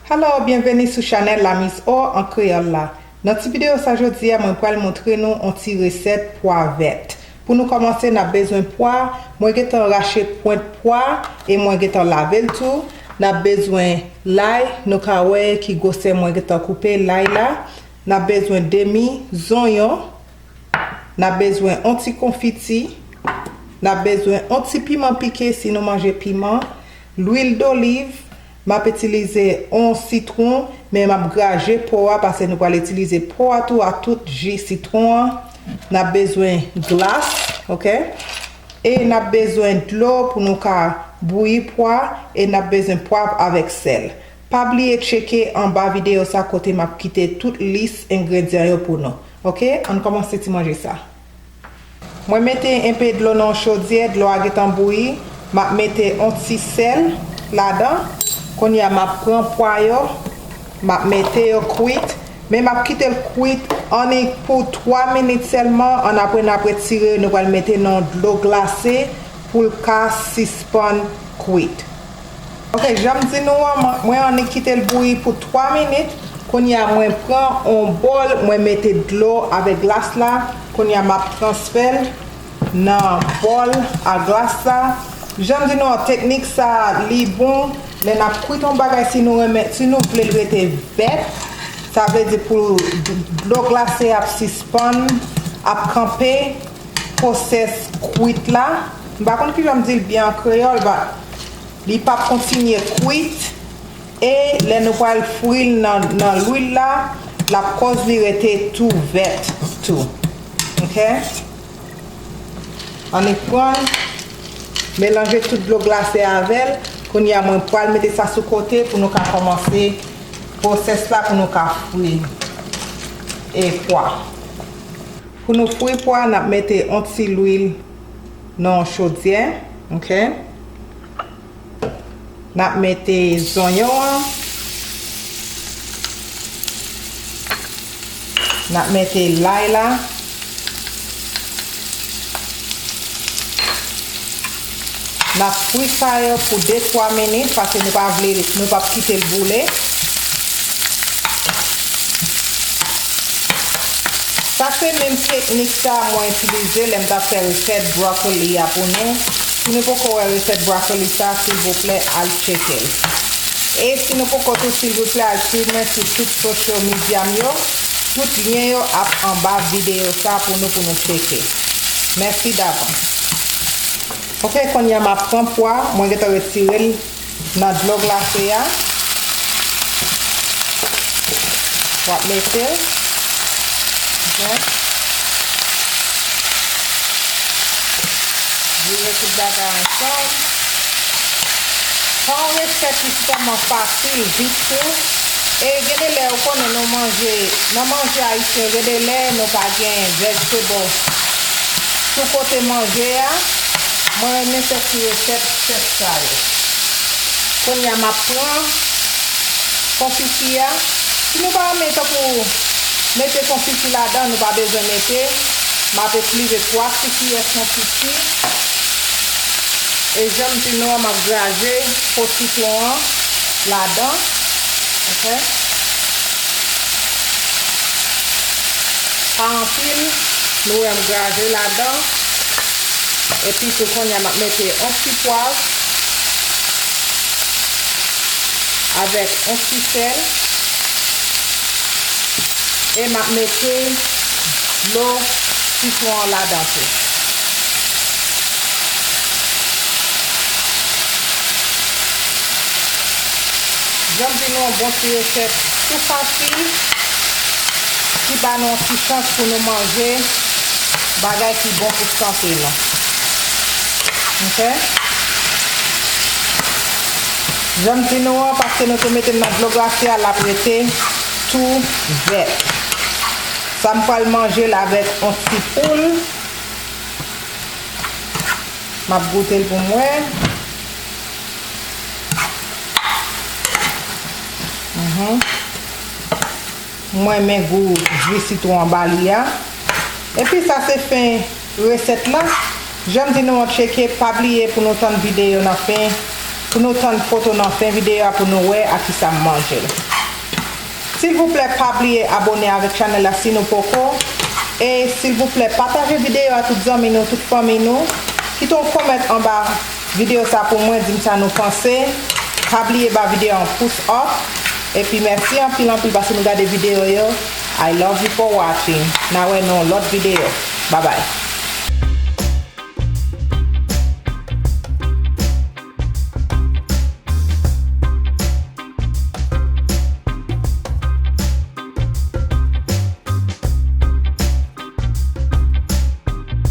Hello byenveni sou chanèl la Miss O an kreyòl la nan ti videyo sa jodi a mwen pral montre nou on ti resèt pwa vèt pou nou kòmanse nap bezwen pwa mwen gentan rache pwent pwa e mwen gentan lavel tou nap bezwen lay nou ka wè ki gwosè mwen gentan koupe lay la N ap bezwen demi zonyon. N ap bezwen yon ti konfiti. N ap bezwen yon ti piman pike si nou manje piman. Lwil doliv. M ap itilize yon sitwon, men m ap graje po a pase nou pral itilize po a tou a tout ji sitwon an. N ap bezwen glas ok e n ap bezwen dlo pou nou ka bouyi pwa e n ap bezwen pwav avèk sèl. Pa bliye tcheke anba videyo sa kote map kite tout lis engredyan yo pou nou ok ann kòmanse ti manje sa mwen mete enpe dlo nan yon chodyè dlo a gentan bouyi map mete yon ti sèl ladan kounye a map pran pwa yo map mete yo kwit men map kitel kwit annik pou 3 minit sèlman ann apre nap retire yo nou pral mete nan yon dlo glase poul ka sispann kwit. Ok janm di nou an mwen annik kitel bouyi pou 3 minit kounya mwen pran on bòl mwen mete dlo avèk glas la kounya map transfèl nan bòl a glas la janm di nou an teknik sa li bon lè nap kwit on bagay si nou renmen si nou vlel rete vèt sa vle di pou dlo glase ap sispann ap kanpe. Pwosès kwit la, m pa konn ki jan m di l byen an kreyòl but li pa p kontinye kwit e lè nou pral fri l nan lwil la l ap kòz li rete tou vèt tou ok. Annik pran l melanje tout dlo glase avè l kounye a mwen pral mete sa sou kote pou nou ka kòmanse pwosès la pou nou ka fri e pwa. Pou nou fri pwa nap mete on ti lwil nan on chodyè ok nap mete zonyon an nap mete lay la. n ap fri fire pou 2 3 minit pase nou pa vle nou pap kite l boule sa se menm teknik sa mwen itilize lè m t ap fè resèt broccoli a pou nou si nou poko wè resèt broccoli sa silvouplè al tcheke l e si nou poko tou silvouplè al swiv mwen sou tout social media m yo tout lyen yo ap anba video sa pou nou pou nou tcheke. Mèsi davans. Ok kounye a map pran pwa mwen gentan retirel nan dlo glase a. Wap metel. Jen. Vire tout bagay ansanm. Pwa an rechèch li sitèlman fasil, vit tou. E gen de lè ou konnen nou manje nan manje ayisyen gen de lè nou pa gen vegetables sou kote manje a mwen renmen fè ti resèt chèf sa yo kounya map pran konfiti a si nou pa renmen tankou mete konfiti ladan nou pa bezwen mete map itlize 3 ti kiyè konfiti e janm di nou an map graje po sitwon an ladan. ok pa anpil nou wè m graje ladan epi tou konnya map mete on ti pwav avèk on ti sèl e map mete dlo sitwon an ladan tou. Janm di nou yon bon ti resèt tou fasi ki ba nou yon ti chans pou nou manje bagay ki bon pou sante nou. Ok. Janm di nou an paske nou te mete l nan dlo glase a lap rete tou vèt. Sa m pral manje l avèk yon ti poul. Map goute l pou m wè. M renmen gou jwi sitwon an ba li a. Epi sa se fen resèt la. Jan m di nou an tcheke pa bliye pou nou tann videyo nan fen, pou nou tann foto nan fen videyo a pou nou wè ak ki sa m manje l. Silvouplè pa bliye abone avèk chanèl la si nou poko e silvouplè pataje videyo a tout zanmi nou, tout fanmi nou. Kite yon comment anba. Video sa pou mwen dim sa nou panse pa bliye ba video an pous up epi mèsi anpil anpil paske nou gade video yo I love you for watching na wè nou lòt video babay.